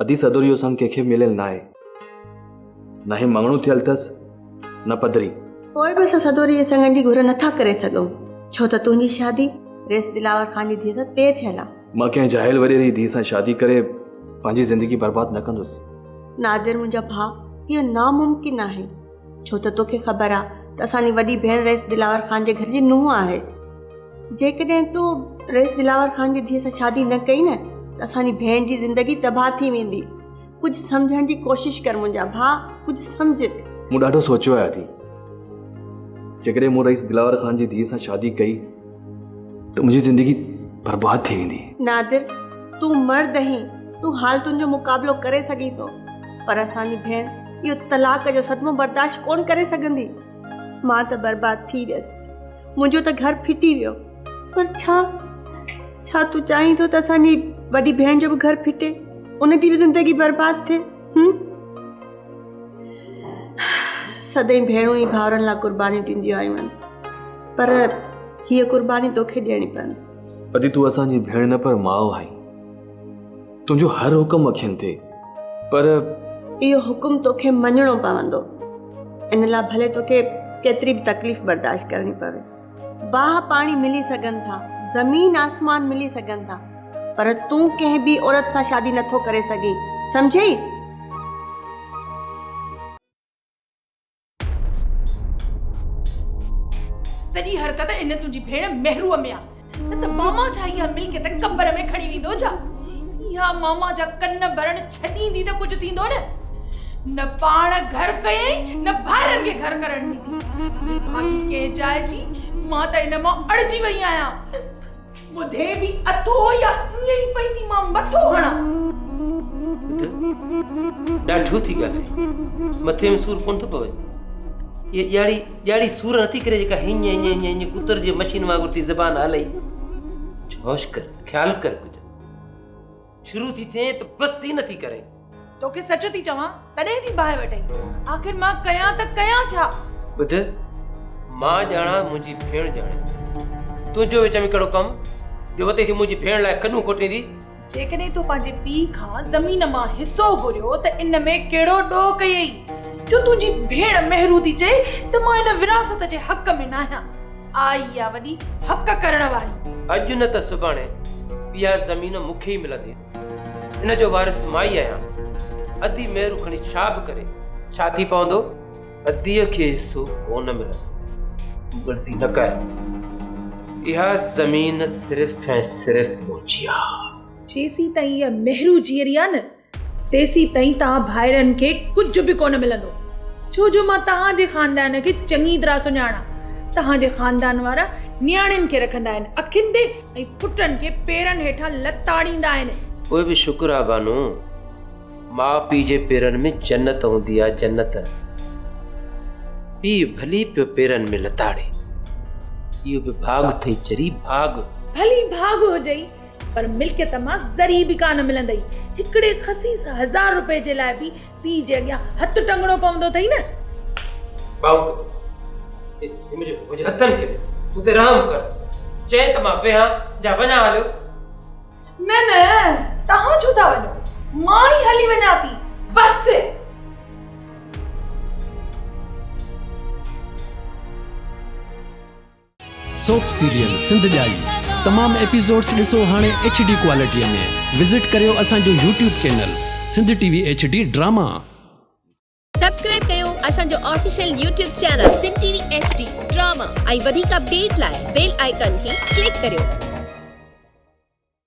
ادي صدر جو سڱ ڪنهن کي به مليل ناهي. نه هي مڱڻو ٿيل اٿس نه پڌري. پوء به اسان صدر جي سڱن جي گهر نٿا ڪري سگهون. ڇو ته تنهنجي شادي رئيس دلاور خان جي ڌيء سان طئي ٿيل آ. مان ڪنهن جاهل وڏيري جي ڌيء سان شادي ڪري پنهنجي زندگي برباد نه ڪندس. نادر منهنجا ڀاء اهو ناممڪن آهي. ڇو ته توکي خبر آ ته اسان جي وڏي ڀيڻ رئيس دلاور خان جي گهر جي نونهن آهي. جيڪڏهن تو رئيس دلاور خان جي ڌيء سان شادي نه ڪئي نه ته اسان جي ڀيڻ جي زندگي تباهه ٿي ويندي. ڪجهه سمجهڻ جي ڪوشش ڪر منهنجا ڀاء، ڪجهه سمجهه. مون ڏاڍو سوچيو آهي ادي. جيڪڏهن مون رئيس دلاور خان جي ڌيء سان شادي ڪئي. ته منهنجي زندگي برباد ٿي ويندي نادر تون مرد هين تون حال تنهنجو مقابلو ڪري سگهين ٿو پر اسان جي ڀيڻ اهو طلاق جو صدمو برداشت ڪون ڪري سگهندي مان ته برباد ٿي ويس منهنجو ته گهر ڦٽي ويو پر ڇا ڇا تون چاهين ٿو ته اسان جي وڏي ڀيڻ جو به گهر ڦٽي ان جي به زندگي برباد ٿئي هن سدائين ڀيڻون ۽ ڀائرن لاء قربانيون ڏينديون آيون آهن پر هيء قرباني توکي ڏيڻي پوندي. ادي تون اسان جي ڀيڻ نه پر ماء آهين. تنهنجو هر حڪم اکين تي پر اهو حڪم توکي مڃڻو پوندو. ان لاء ڀلي توکي ڪيتري به تڪليف برداشت ڪرڻي پوي. باهه پاڻي ملي سگهن ٿا، زمين آسمان ملي سگهن ٿا، پر تون ڪنهن ٻي عورت سان شادي نه ٿو ڪري سگهين، سمجهيئي؟ سڄي حرڪت ان تنهنجي ڀيڻ مهروء ۾ آ، نه ته ماما ڇا اها ملڪيت قبر ۾ کڻي ويندو ڇا؟ اها ماما جا ڪن ڀرڻ ڇڏيندي ته ڪجهه ٿيندو نه. نه پاڻ گهر ڪيائين نه ڀائرن کي گهر ڪرڻ ڏني. ڀاڳي ڪنهن جاء جي مان ته ان مان اڙجي وئي آهيان. ٻڌي به اٿو يا ائين ئي پئندي مان مٿو هڻان. ٻڌ ڏاڍو ٿي ڳالهائين. مٿي ۾ سور ڪونه ٿو پوي. اها ڄاڙي ڄاڙي سور نٿي ڪري جيڪا هينئن هينئن هينئن هينئن ڪتر جي مشين وانگر ٿي زبان هلائي. ڇوش ڪر خيال ڪر ڪجهه. شروع ٿي ٿئين ته بس ئي نٿي ڪرين توکي سچ ٿي چوان تڏهن ٿي باهه وٽين آخر مان ڪيان ته ڪيان ڇا ٻڌ مان ڄاڻا منهنجي ڀيڻ ڄاڻي تنهنجو وچ ۾ ڪهڙو ڪم جو وتي ٿي منهنجي ڀيڻ لاء ڪنون کوٽيندي جيڪڏهن تو پنهنجي پي کان زمين مان حصو گهريو ته ان ۾ ڪهڙو ڏوهه ڪيئي جو تنهنجي ڀيڻ مهرو ٿي چئي ته مان ان وراثت جي حق ۾ ناهيان آء ئي آ وڏي حق ڪرڻ واري. اڄ نه ته سڀاڻي اها زمين مون کي ئي ملندي. ان جو وارث مان ئي آهيان. ادي مهرو کڻي ڇا به ڪري ڇا ٿي پوندو؟ اديء کي حصو ڪو نه ملندو. غلطي نه ڪر. اها زمين صرف ۽ صرف منهنجي آ. جيسين تائين اها مهرو جيئري آ نه تيسيتائين توهان ڀائرن کي ڪجهه به ڪونه ملندو، ڇو جو مان توهان جي خاندان کي چڱي طرح سڃاڻان. توهان جي خاندان وارا نياڻين کي رکندا آهن اکين تي ۽ پٽن کي پيرن هيٺان لتاڙيندا آهن. پوء به شڪر آ بانو، ماء پيء جي پيرن ۾ جنت هوندي آ جنت. پيء ڀلي پيو پيرن ۾ لتاڙي، اهو به ڀاڳ اٿئي چري ڀاڳ. ڀلي ڀاڳ هجئي. پر ملڪيت مان ذري به ڪا نه ملندئي. هڪڙي خسيس هزار روپئي جي لاء به پيء جي اڳيان هٿ ٽنگڻو پوندو اٿئي نه! ٻائو ته هي منهنجي پوء جي هٿن کي ڏس. تون ته رحم ڪر. چئين ته مان ويهان جا وڃان هليو. نه نه توهان ڇو ٿا وڃو. مان ئي هلي وڃان ٿي. بس! سوپ سيريل سنڌ ڄائي تمام ايپيسوڊس ڏسو هاڻي ايڇ ڊي ڪوالٽي ۾ وزٽ ڪريو اسان جو YouTube channel Sindh T V H D drama. Subscribe ڪيو اسان جو official YouTube channel Sindh T V H D drama ۽ وڌيڪ اپڊيٽ لاء بيل آئيڪان کي ڪلڪ ڪريو.